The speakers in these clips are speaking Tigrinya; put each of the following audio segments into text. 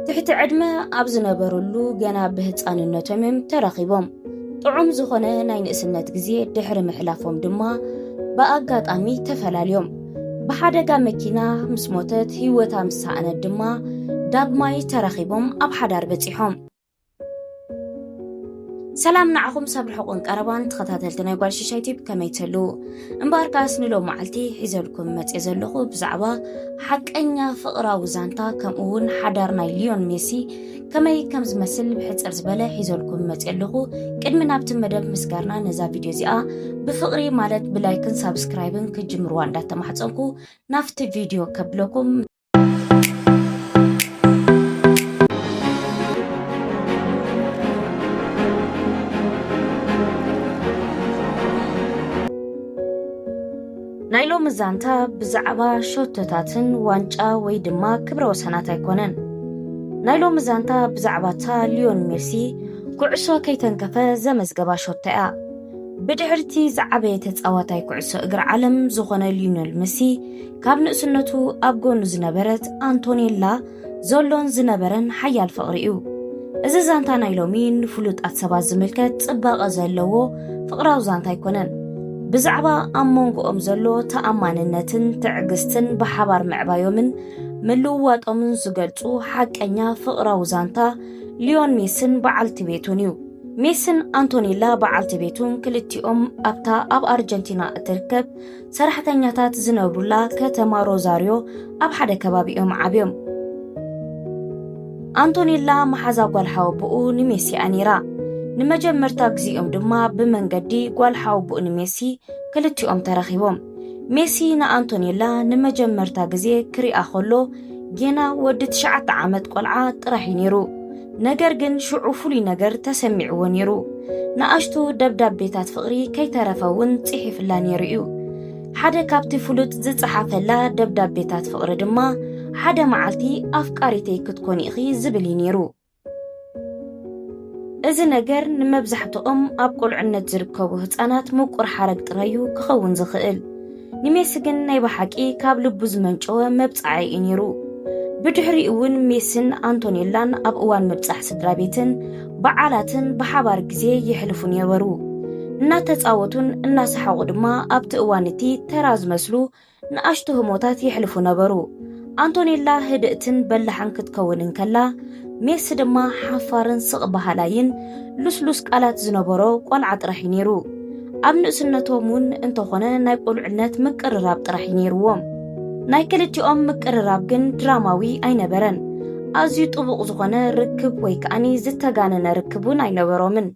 ትሕቲ ዕድመ ኣብ ዝነበረሉ ገና ብህፃንነቶም እዮም ተራኺቦም ጥዑም ዝኾነ ናይ ንእስነት ግዜ ድሕሪ ምሕላፎም ድማ ብኣጋጣሚ ተፈላልዮም ብሓደጋ መኪና ምስ ሞተት ህይወታ ምስ ሰኣነት ድማ ዳግማይ ተራኺቦም ኣብ ሓዳር በፂሖም ሰላም ንዓኹም ሰብ ርሑቕን ቀረባን ተኸታተልቲ ናይ ጓል ሽሻይ ቲፕ ከመይ ትህሉ እምበኣር ከኣስ ንሎም መዓልቲ ሒዘልኩም መፅእ ዘለኹ ብዛዕባ ሓቀኛ ፍቕራዊ ዛንታ ከምኡ እውን ሓዳር ናይ ሊዮን ሜሲ ከመይ ከም ዝመስል ብሕፅር ዝበለ ሒዘልኩም መፅእ ኣለኹ ቅድሚ ናብቲ መደብ ምስጋርና ነዛ ቪድዮ እዚኣ ብፍቕሪ ማለት ብላይክን ሳብስክራይብን ክጅምርዋ እንዳተማሕፀንኩ ናብቲ ቪድዮ ከብለኩም ናይ ሎሚ ዛንታ ብዛዕባ ሸቶታትን ዋንጫ ወይ ድማ ክብረ ወሰናት ኣይኮነን ናይ ሎሚ ዛንታ ብዛዕባ እታ ሊዮን ሜሲ ኩዕሶ ከይተንከፈ ዘመዝገባ ሸቶ እያ ብድሕርቲ ዝዓበየ ተፃዋታይ ኩዕሶ እግሪ ዓለም ዝኾነ ሊዮነል መሲ ካብ ንእስነቱ ኣብ ጎኑ ዝነበረት ኣንቶኔላ ዘሎን ዝነበረን ሓያል ፍቕሪ እዩ እዚ ዛንታ ናይ ሎሚ ንፍሉጣት ሰባት ዝምልከት ጽባቐ ዘለዎ ፍቕራዊ ዛንታ ኣይኮነን ብዛዕባ ኣብ መንጎኦም ዘሎ ተኣማንነትን ትዕግስትን ብሓባር ምዕባዮምን ምልውዋጦምን ዝገልጹ ሓቀኛ ፍቕራዊ ዛንታ ሊዮን ሜስን በዓልቲ ቤቱን እዩ ሜስን ኣንቶኔላ በዓልቲ ቤቱን ክልቲኦም ኣብታ ኣብ ኣርጀንቲና እትርከብ ሰራሕተኛታት ዝነብሩላ ከተማ ሮዛርዮ ኣብ ሓደ ከባቢ እዮም ዓብዮም ኣንቶኔላ መሓዛ ጓል ሓወቦኡ ንሜሲ እያ ነይራ ንመጀመርታ ግዜኦም ድማ ብመንገዲ ጓል ሓወቦኡ ንሜሲ ክልቲኦም ተረኺቦም ሜሲ ንኣንቶኔላ ንመጀመርታ ግዜ ክሪኣ ከሎ ጌና ወዲ ትሽዓተ ዓመት ቆልዓ ጥራሕ እዩ ነይሩ ነገር ግን ሽዑ ፍሉይ ነገር ተሰሚዕዎ ነይሩ ንኣሽቱ ደብዳቤታት ፍቕሪ ከይተረፈ እውን ጽሒፍላ ነይሩ እዩ ሓደ ካብቲ ፍሉጥ ዝጸሓፈላ ደብዳቤታት ፍቕሪ ድማ ሓደ መዓልቲ ኣፍቃሪተይ ክትኮኒ ኢኺ ዝብል እዩ ነይሩ እዚ ነገር ንመብዛሕትኦም ኣብ ቁልዕነት ዝርከቡ ህፃናት ምቁር ሓረግ ጥራይ እዩ ክኸውን ዝኽእል ንሜሲ ግን ናይ ብሓቂ ካብ ልቡ ዝመንጨወ መብጻዓይ እዩ ነይሩ። ብድሕሪ እውን ሜሲን ኣንቶኔላን ኣብ እዋን ምብጻሕ ስድራ ቤትን በዓላትን ብሓባር ግዜ የሕልፉ ነበሩ። እናተጻወቱን እናሰሓቑ ድማ ኣብቲ እዋን እቲ ተራ ዝመስሉ ንኣሽቱ ህሞታት የሕልፉ ነበሩ። ኣንቶኔላ ህድእትን በላሕን ክትከውን እንከላ ሜሲ ድማ ሓፋርን ስቕ በሃላይን ልስሉስ ቃላት ዝነበሮ ቆልዓ ጥራሕ እዩ ነይሩ ኣብ ንእስነቶም እውን እንተኾነ ናይ ቁልዕነት ምቅርራብ ጥራሕ እዩ ነይርዎም ናይ ክልቲኦም ምቅርራብ ግን ድራማዊ ኣይነበረን ኣዝዩ ጥቡቕ ዝኾነ ርክብ ወይ ከዓኒ ዝተጋነነ ርክብ እውን ኣይነበሮምን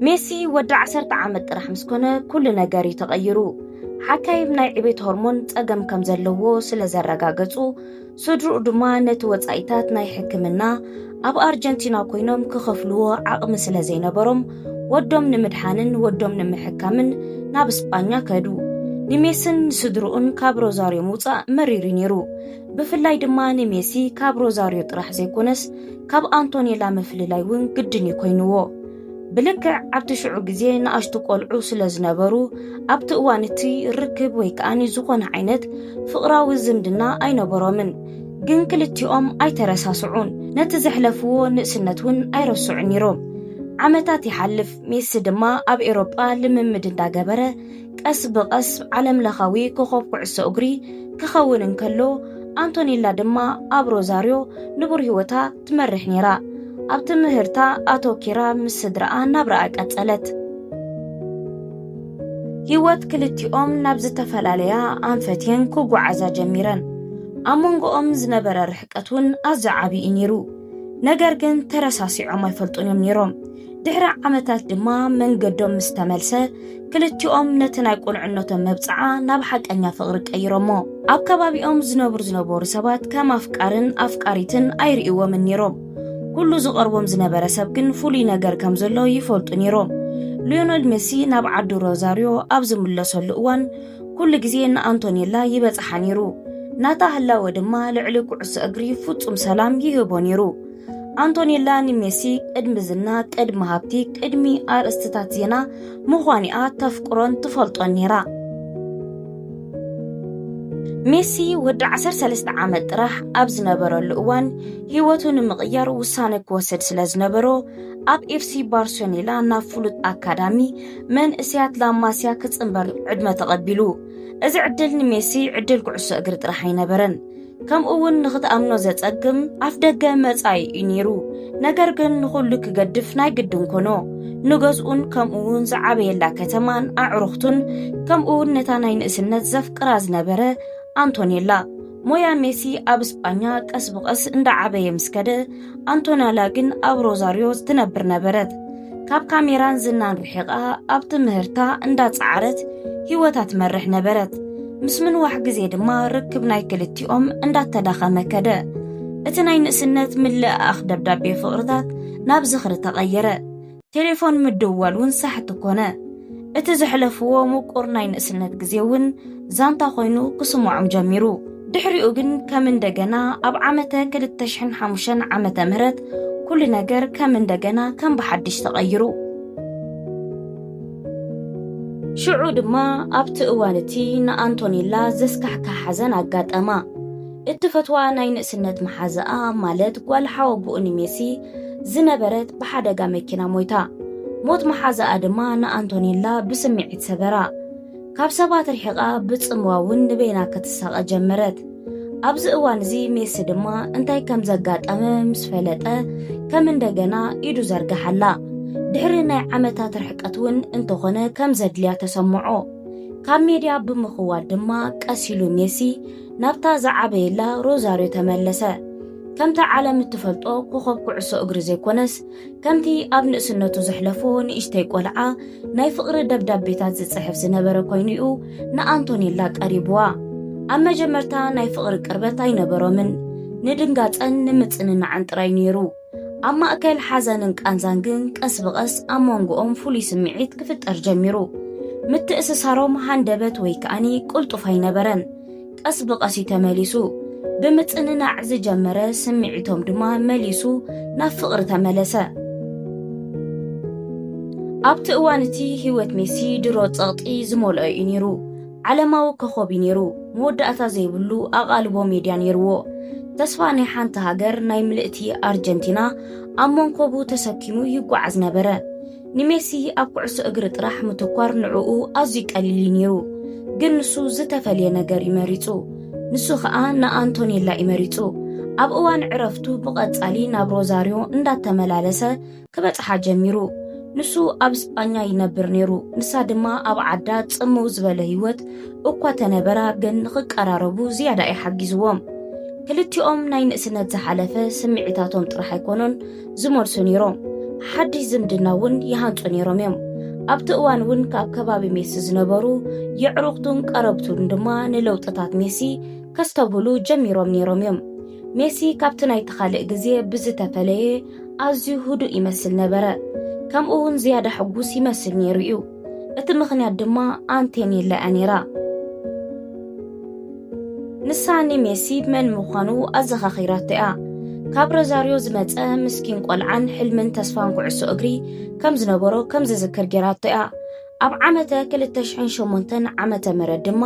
ሜሲ ወዲ ዓሰርተ ዓመት ጥራሕ ምስ ኮነ ኩሉ ነገር እዩ ተቐይሩ። ሓካይም ናይ ዕቤት ሆርሞን ጸገም ከም ዘለዎ ስለ ዘረጋገጹ፣ ስድርኡ ድማ ነቲ ወጻኢታት ናይ ሕክምና ኣብ ኣርጀንቲና ኮይኖም ክኸፍልዎ ዓቕሚ ስለ ዘይነበሮም ወዶም ንምድሓንን ወዶም ንምሕካምን ናብ ስጳኛ ከዱ። ንሜስን ንስድርኡን ካብ ሮዛርዮ ምውጻእ መሪሩ ነይሩ። ብፍላይ ድማ ንሜሲ ካብ ሮዛርዮ ጥራሕ ዘይኮነስ ካብ ኣንቶኔላ ምፍልላይ እውን ግድን እዩ ኮይንዎ ብልክዕ ኣብቲ ሽዑ ግዜ ንኣሽቱ ቆልዑ ስለ ዝነበሩ ኣብቲ እዋን እቲ ርክብ ወይ ከዓኒ ዝኾነ ዓይነት ፍቕራዊ ዝምድና ኣይነበሮምን ግን ክልቲኦም ኣይተረሳስዑን ነቲ ዘሕለፍዎ ንእስነት እውን ኣይረስዑን ነይሮም ዓመታት ይሓልፍ ሜሲ ድማ ኣብ ኤሮጳ ልምምድ እንዳገበረ ቀስ ብቐስ ዓለምለኻዊ ኮኸብ ኩዕሶ እግሪ ክኸውን እንከሎ ኣንቶኔላ ድማ ኣብ ሮዛርዮ ንቡር ህይወታ ትመርሕ ነይራ። ኣብ ትምህርታ ኣተኪራ ምስ ስድራኣ ናብራኣ ቀጸለት ህይወት ክልቲኦም ናብ ዝተፈላለያ ኣንፈትየን ክጓዓዛ ጀሚረን ኣብ መንጎኦም ዝነበረ ርሕቀት እውን ኣዝዩ ዓብዪ እዩ ነይሩ ነገር ግን ተረሳሲዖም ኣይፈልጡን እዮም ነይሮም ድሕሪ ዓመታት ድማ መንገዶም ምስ ተመልሰ ክልቲኦም ነቲ ናይ ቁልዕነቶም መብጽዓ ናብ ሓቀኛ ፍቕሪ ቀይሮሞ ኣብ ከባቢኦም ዝነብሩ ዝነበሩ ሰባት ከም ኣፍቃርን ኣፍቃሪትን ኣይርእዎምን ነይሮም ኩሉ ዝቐርቦም ዝነበረ ሰብ ግን ፍሉይ ነገር ከም ዘሎ ይፈልጡ ነይሮም ሊዮነል ሜሲ ናብ ዓዲ ሮዛርዮ ኣብ ዝምለሰሉ እዋን ኩሉ ግዜ ንኣንቶኔላ ይበጽሓ ነይሩ ናታ ህላወ ድማ ልዕሊ ኩዕሶ እግሪ ፍጹም ሰላም ይህቦ ነይሩ ኣንቶኔላ ንሜሲ ቅድሚ ዝና ቅድሚ ሃብቲ ቅድሚ ኣርእስትታት ዜና ምዃኒኣ ተፍቅሮን ትፈልጦን ነይራ ሜሲ ወዲ 13 ዓመት ጥራሕ ኣብ ዝነበረሉ እዋን ህይወቱ ንምቕያር ውሳነ ክወስድ ስለ ዝነበሮ ኣብ ኤፍሲ ባርሶኔላ ናብ ፍሉጥ ኣካዳሚ መንእስያት ላማስያ ክፅምበር ዕድመ ተቐቢሉ እዚ ዕድል ንሜሲ ዕድል ኩዕሶ እግሪ ጥራሕ ኣይነበረን ከምኡ እውን ንኽትኣምኖ ዘጸግም ኣፍ ደገ መጻኢ እዩ ነይሩ ነገር ግን ንዅሉ ክገድፍ ናይ ግድን ኮኖ ንገዝኡን ከምኡ እውን ዝዓበየላ ከተማን ኣዕሩኽቱን ከምኡ እውን ነታ ናይ ንእስነት ዘፍቅራ ዝነበረ ኣንቶኔላ ሞያ ሜሲ ኣብ እስጳኛ ቀስ ብቐስ እንዳዓበየ ምስ ከደ ኣንቶናላ ግን ኣብ ሮዛርዮ ትነብር ነበረት። ካብ ካሜራን ዝናን ርሒቓ ኣብ ትምህርታ እንዳጸዓረት ህይወታ ትመርሕ ነበረት ምስ ምንዋሕ ግዜ ድማ ርክብ ናይ ክልቲኦም እንዳተዳኸመ ከደ እቲ ናይ ንእስነት ምልእኣኽ ደብዳቤ ፍቕርታት ናብ ዝኽሪ ተቐየረ ቴሌፎን ምድዋል እውን ሳሕቲ ኮነ። እቲ ዘሕለፍዎ ምቁር ናይ ንእስነት ግዜ እውን ዛንታ ኮይኑ ክስምዖም ጀሚሩ። ድሕሪኡ ግን ከም እንደገና ኣብ ዓመተ 2005 ዓመተ ምህረት ኩሉ ነገር ከም እንደገና ከም ብሓድሽ ተቐይሩ ሽዑ ድማ ኣብቲ እዋን እቲ ንኣንቶኔላ ዘስካሕካ ሓዘን ኣጋጠማ። እትፈትዋ ናይ ንእስነት መሓዝኣ ማለት ጓል ሓወቦኡ ንሜሲ ዝነበረት ብሓደጋ መኪና ሞይታ። ሞት መሓዝኣ ድማ ንኣንቶኔላ ብስምዒት ሰበራ። ካብ ሰባት ርሒቓ ብጽምዋ እውን ንበይና ክትሳቐ ጀመረት። ኣብዚ እዋን እዚ ሜሲ ድማ እንታይ ከም ዘጋጠመ ምስ ፈለጠ ከም እንደገና ኢዱ ዘርግሓላ ድሕሪ ናይ ዓመታት ርሕቀት እውን እንተኾነ ከም ዘድልያ ተሰምዖ ካብ ሜድያ ብምኽዋል ድማ ቀሲሉ ሜሲ ናብታ ዝዓበየላ ሮዛርዮ ተመለሰ። ከምቲ ዓለም እትፈልጦ ኮኸብ ኩዕሶ እግሪ ዘይኮነስ ከምቲ ኣብ ንእስነቱ ዘሕለፎ ንእሽተይ ቆልዓ ናይ ፍቕሪ ደብዳቤታት ዝጽሕፍ ዝነበረ ኮይኑ እዩ ንኣንቶኔላ ቀሪብዋ። ኣብ መጀመርታ ናይ ፍቕሪ ቅርበት ኣይነበሮምን፣ ንድንጋጸን ንምጽንናዕን ጥራይ ነይሩ። ኣብ ማእከል ሓዘንን ቃንዛን ግን ቀስ ብቐስ ኣብ መንጎኦም ፍሉይ ስምዒት ክፍጠር ጀሚሩ ምትእስሳሮም ሃንደበት ወይ ከኣኒ ቅልጡፍ ኣይነበረን ቀስ ብቐስ እዩ ተመሊሱ ብምጽንናዕ ዝጀመረ ስምዒቶም ድማ መሊሱ ናብ ፍቕሪ ተመለሰ ኣብቲ እዋን እቲ ህይወት ሜሲ ድሮ ጸቕጢ ዝመልኦ እዩ ነይሩ ዓለማዊ ኮኾብ'ዩ ነይሩ፣ መወዳእታ ዘይብሉ ኣቓልቦ ሜድያ ነይርዎ። ተስፋ ናይ ሓንቲ ሃገር፣ ናይ ምልእቲ ኣርጀንቲና፣ ኣብ መንኮቡ ተሰኪሙ ይጓዓዝ ነበረ። ንሜሲ ኣብ ኩዕሶ እግሪ ጥራሕ ምትኳር ንዕኡ ኣዝዩ ቀሊል'ዩ ነይሩ። ግን ንሱ ዝተፈልየ ነገር'ዩ መሪጹ። ንሱ ኸኣ ንኣንቶኔላ'ዩ መሪጹ። ኣብ እዋን ዕረፍቱ ብቐጻሊ ናብ ሮዛርዮ እንዳተመላለሰ ክበጽሓ ጀሚሩ። ንሱ ኣብ ስጳኛ ይነብር ነይሩ፣ ንሳ ድማ ኣብ ዓዳ ጽምው ዝበለ ህይወት እኳ ተነበራ ግን ንኽቀራረቡ ዝያዳ እዩ ሓጊዝዎም። ክልቲኦም ናይ ንእስነት ዝሓለፈ ስምዒታቶም ጥራሕ ኣይኮኑን ዝመልሱ ነይሮም፣ ሓድሽ ዝምድና እውን ይሃንጹ ነይሮም እዮም። ኣብቲ እዋን እውን ካብ ከባቢ ሜሲ ዝነበሩ የዕሩኽቱን ቀረብቱን ድማ ንለውጥታት ሜሲ ከስተብህሉ ጀሚሮም ነይሮም እዮም። ሜሲ ካብቲ ናይቲ ካልእ ግዜ ብዝተፈለየ ኣዝዩ ህዱእ ይመስል ነበረ፣ ከምኡ እውን ዝያዳ ሕጉስ ይመስል ነይሩ እዩ። እቲ ምኽንያት ድማ ኣንቴኔላ እያ ነይራ። ንሳ ንሜሲ መን ምዃኑ ኣዘኻኺራቶ እያ። ካብ ረዛርዮ ዝመፀ ምስኪን ቆልዓን ሕልምን ተስፋን ኩዕሶ እግሪ ከም ዝነበሮ ከም ዝዝክር ገይራቶ እያ። ኣብ ዓመተ ክልተ ሽሕን ሸሞንተን ዓመተ ምህረት ድማ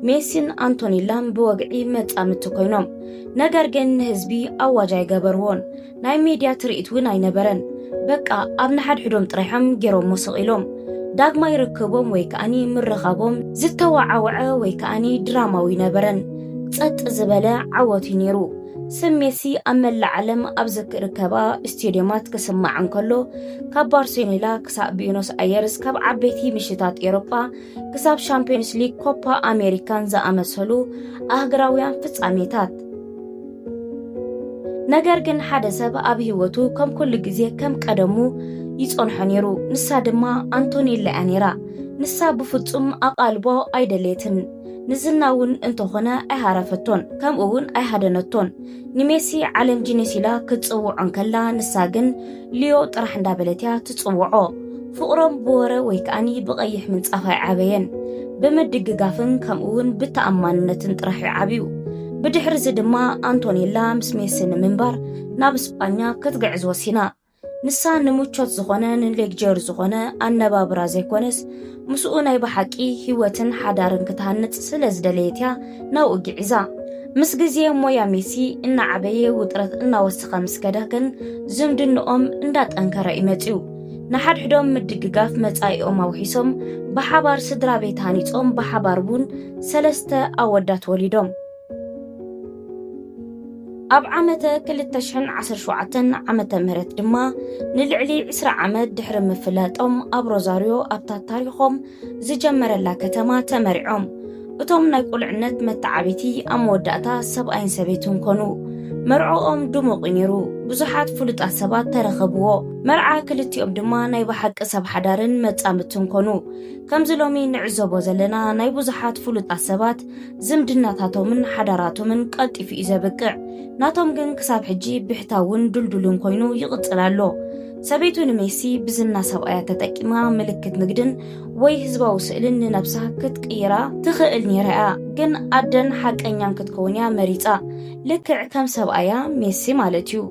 ሜሲን ኣንቶኒላን ብወግዒ መጻምድቲ ኮይኖም ነገር ግን ንህዝቢ ኣዋጅ ኣይገበርዎን ናይ ሚድያ ትርኢት እውን ኣይነበረን በቃ ኣብ ንሓድሕዶም ጥራይሖም ገይሮሞ ስቕ ኢሎም ዳግማይ ርክቦም ወይ ከኣኒ ምርኻቦም ዝተወዓወዐ ወይ ከኣኒ ድራማዊ ነበረን ጸጥ ዝበለ ዓወት እዩ ነይሩ ስም ሜሲ ኣብ መላእ ዓለም ኣብ ዝርከባ ስቴድዮማት ክስማዕ እንከሎ ካብ ባርሴሎና ክሳብ ቢኖስ ኣየርስ ካብ ዓበይቲ ምሽታት ኤሮጳ ክሳብ ሻምፒዮንስ ሊግ ኮፓ ኣሜሪካን ዝኣመሰሉ ኣህግራውያን ፍጻሜታት ነገር ግን ሓደ ሰብ ኣብ ህይወቱ ከም ኩሉ ግዜ ከም ቀደሙ ይጸንሖ ነይሩ። ንሳ ድማ ኣንቶኔላ እያ ነይራ። ንሳ ብፍጹም ኣቓልቦ ኣይደልየትን። ንዝና እውን እንተኾነ ኣይሃረፈቶን ከምኡ እውን ኣይሃደነቶን ንሜሲ ዓለም ጂኒስ ኢላ ክትፅውዖ እንከላ ንሳ ግን ልዮ ጥራሕ እንዳበለት እያ ትፅውዖ ፍቕሮም ብወረ ወይ ከዓኒ ብቐይሕ ምንጻፍ ኣይዓበየን ብምድግጋፍን ከምኡውን ብተኣማንነትን ጥራሕ እዩ ዓብዩ ብድሕሪ እዚ ድማ ኣንቶኔላ ምስ ሜሲ ንምንባር ናብ ስጳኛ ክትግዕዝ ወሲና ንሳ ንምቾት ዝኾነ ንሌግጀር ዝኾነ ኣነባብራ ዘይኮነስ ምስኡ ናይ ብሓቂ ህይወትን ሓዳርን ክትሃንፅ ስለ ዝደለየት እያ ናብኡ ግዒዛ ምስ ግዜ ሞያ ሜሲ እናዓበየ ውጥረት እናወሰኸ ምስ ከደ ግን ዝምድንኦም እንዳጠንከረ እዩ መፅዩ ንሓድሕዶም ምድግጋፍ መጻኢኦም ኣውሒሶም ብሓባር ስድራ ቤት ሃኒጾም ብሓባር እውን ሰለስተ ኣወዳት ወሊዶም ኣብ ዓመተ 217 ዓመተ ምህረት ድማ ንልዕሊ 20 ዓመት ድሕሪ ምፍላጦም ኣብ ሮዛርዮ ኣብታ ታሪኾም ዝጀመረላ ከተማ ተመሪዖም እቶም ናይ ቁልዕነት መተዓቢቲ ኣብ መወዳእታ ሰብኣይን ሰበይትን ኮኑ መርዖኦም ድሙቕ ነይሩ ብዙሓት ፍሉጣት ሰባት ተረኸብዎ መርዓ ክልቲኦም ድማ ናይ ብሓቂ ሰብ ሓዳርን መጻምትን ኮኑ ከምዚ ሎሚ ንዕዘቦ ዘለና ናይ ብዙሓት ፍሉጣት ሰባት ዝምድናታቶምን ሓዳራቶምን ቀልጢፉ እዩ ዘብቅዕ። ናቶም ግን ክሳብ ሕጂ ብሕታውን ድልዱልን ኮይኑ ይቕጽል ኣሎ። ሰበይቱ ንሜሲ ብዝና ሰብኣያ ተጠቂማ ምልክት ንግድን ወይ ህዝባዊ ስእልን ንነብሳ ክትቅይራ ትኽእል ነይራ እያ፣ ግን ኣደን ሓቀኛን ክትከውን እያ መሪጻ፣ ልክዕ ከም ሰብኣያ ሜሲ ማለት እዩ።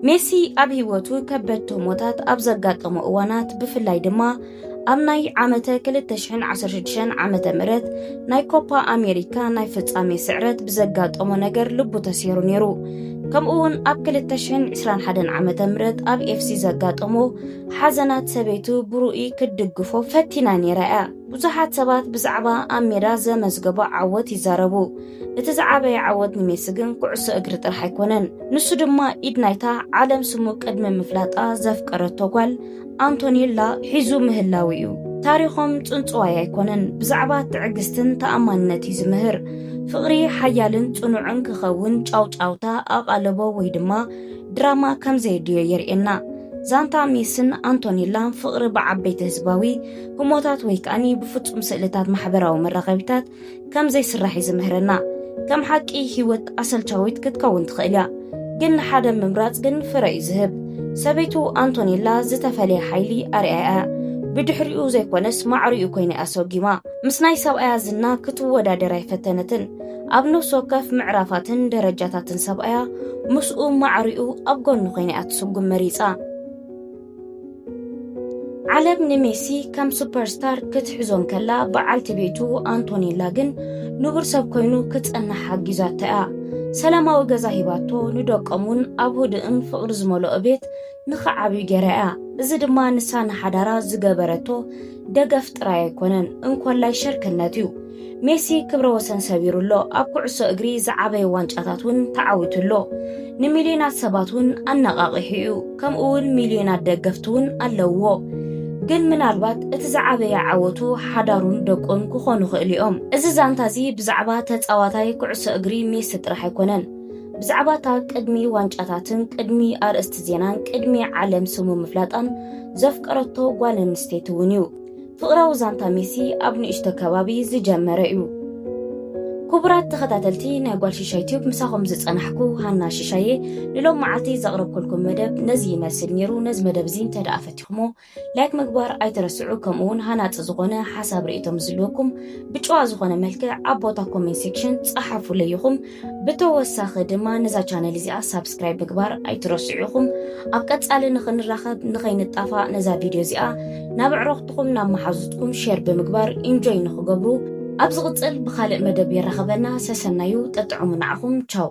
ሜሲ ኣብ ህይወቱ ከበድቲ ህሞታት ኣብ ዘጋጠሞ እዋናት ብፍላይ ድማ ኣብ ናይ ዓመተ 216 ዓመተ ምህረት ናይ ኮፓ ኣሜሪካ ናይ ፍጻሜ ስዕረት ብዘጋጠሞ ነገር ልቡ ተሰይሩ ነይሩ ከምኡ እውን ኣብ 221 ዓመተ ምህረት ኣብ ኤፍሲ ዘጋጠሞ ሓዘናት ሰበይቱ ብሩኡይ ክትድግፎ ፈቲና ነይራ እያ ብዙሓት ሰባት ብዛዕባ ኣብ ሜዳ ዘመዝገቦ ዓወት ይዛረቡ እቲ ዝዓበየ ዓወት ንሜሲ ግን ኩዕሶ እግሪ ጥራሕ ኣይኮነን። ንሱ ድማ ኢድ ናይታ ዓለም ስሙ ቅድሚ ምፍላጣ ዘፍቀረቶ ጓል ኣንቶኔላ ሒዙ ምህላው እዩ። ታሪኾም ጽንጽዋይ ኣይኮነን፣ ብዛዕባ ትዕግስትን ተኣማንነት እዩ ዝምህር። ፍቕሪ ሓያልን ጽኑዕን ክኸውን ጫውጫውታ፣ ኣቓልቦ ወይ ድማ ድራማ ከም ዘየድልዮ የርእየና። ዛንታ ሜስን ኣንቶኔላን ፍቕሪ ብዓበይቲ ህዝባዊ ህሞታት ወይ ከኣ ብፍጹም ስእልታት ማሕበራዊ መራኸቢታት ከም ዘይስራሕ እዩ ዝምህረና። ከም ሓቂ ህይወት ኣሰልቻዊት ክትከውን ትኽእል እያ፣ ግን ንሓደ ምምራጽ ግን ፍረ እዩ ዝህብ። ሰበይቱ ኣንቶኔላ ዝተፈለየ ሓይሊ ኣርኣያ እያ፣ ብድሕሪኡ ዘይኮነስ ማዕሪኡ ኮይና እያ ሰጒማ። ምስ ናይ ሰብኣያ ዝና ክትወዳደር ኣይፈተነትን፣ ኣብ ነፍሲ ወከፍ ምዕራፋትን ደረጃታትን ሰብኣያ ምስኡ ማዕሪኡ ኣብ ጎኑ ኮይና እያ ትስጉም መሪጻ። ዓለም ንሜሲ ከም ሱፐርስታር ክትሕዞ እንከላ በዓልቲ ቤቱ ኣንቶኔላ ግን ንቡር ሰብ ኮይኑ ክጸንሕ ሓጊዛቶ እያ ሰላማዊ ገዛ ሂባቶ ንደቆም እውን ኣብ ህዱእን ፍቕሪ ዝመልኦ ቤት ንኽዓብዩ ገይራ እያ እዚ ድማ ንሳ ንሓዳራ ዝገበረቶ ደገፍ ጥራይ ኣይኮነን እንኮላይ ሸርክነት እዩ ሜሲ ክብረ ወሰን ሰቢሩ ኣሎ፣ ኣብ ኩዕሶ እግሪ ዝዓበየ ዋንጫታት እውን ተዓዊቱ ኣሎ፣ ንሚልዮናት ሰባት እውን ኣነቓቒሑ እዩ፣ ከምኡ'ውን ሚልዮናት ደገፍቲ እውን ኣለውዎ። ግን ምናልባት እቲ ዝዓበየ ዓወቱ ሓዳሩን ደቁን ክኾኑ ይኽእሉ እዮም። እዚ ዛንታ እዚ ብዛዕባ ተጻዋታይ ኩዕሶ እግሪ ሜሲ ጥራሕ ኣይኮነን። ብዛዕባ እታ ቅድሚ ዋንጫታትን ቅድሚ ኣርእስቲ ዜናን ቅድሚ ዓለም ስሙ ምፍላጣን ዘፍቀረቶ ጓል ኣንስተይቲ እውን እዩ። ፍቕራዊ ዛንታ ሜሲ ኣብ ንእሽቶ ከባቢ ዝጀመረ እዩ። ክቡራት ተኸታተልቲ ናይ ጓል ሽሻይ ቲዩብ ምሳኹም ዝጸናሕኩ ሃና ሽሻየ ንሎም መዓልቲ ዘቕረብኩልኩም መደብ ነዚ ይመስል ነይሩ። ነዚ መደብ እዚ እንተ ደኣ ፈቲኹሞ ላይክ ምግባር ኣይትረስዑ። ከምኡውን ሃናጺ ዝኾነ ሓሳብ ርእቶ ምስ ዝልወኩም ብጭዋ ዝኾነ መልክዕ ኣብ ቦታ ኮሜንት ሴክሽን ጸሓፉለይ ኢኹም። ብተወሳኺ ድማ ነዛ ቻነል እዚኣ ሳብስክራይብ ምግባር ኣይትረስዑ ኢኹም። ኣብ ቀጻሊ ንኽንራኸብ ንኸይንጣፋእ ነዛ ቪድዮ እዚኣ ናብ ኣዕሩኽትኹም ናብ መሓዙትኩም ሼር ብምግባር ኢንጆይ ንኽገብሩ ኣብ ዝቕጽል ብኻልእ መደብ የራኸበና ሰሰናዩ ጠጥዑሙ ንዓኹም ቻው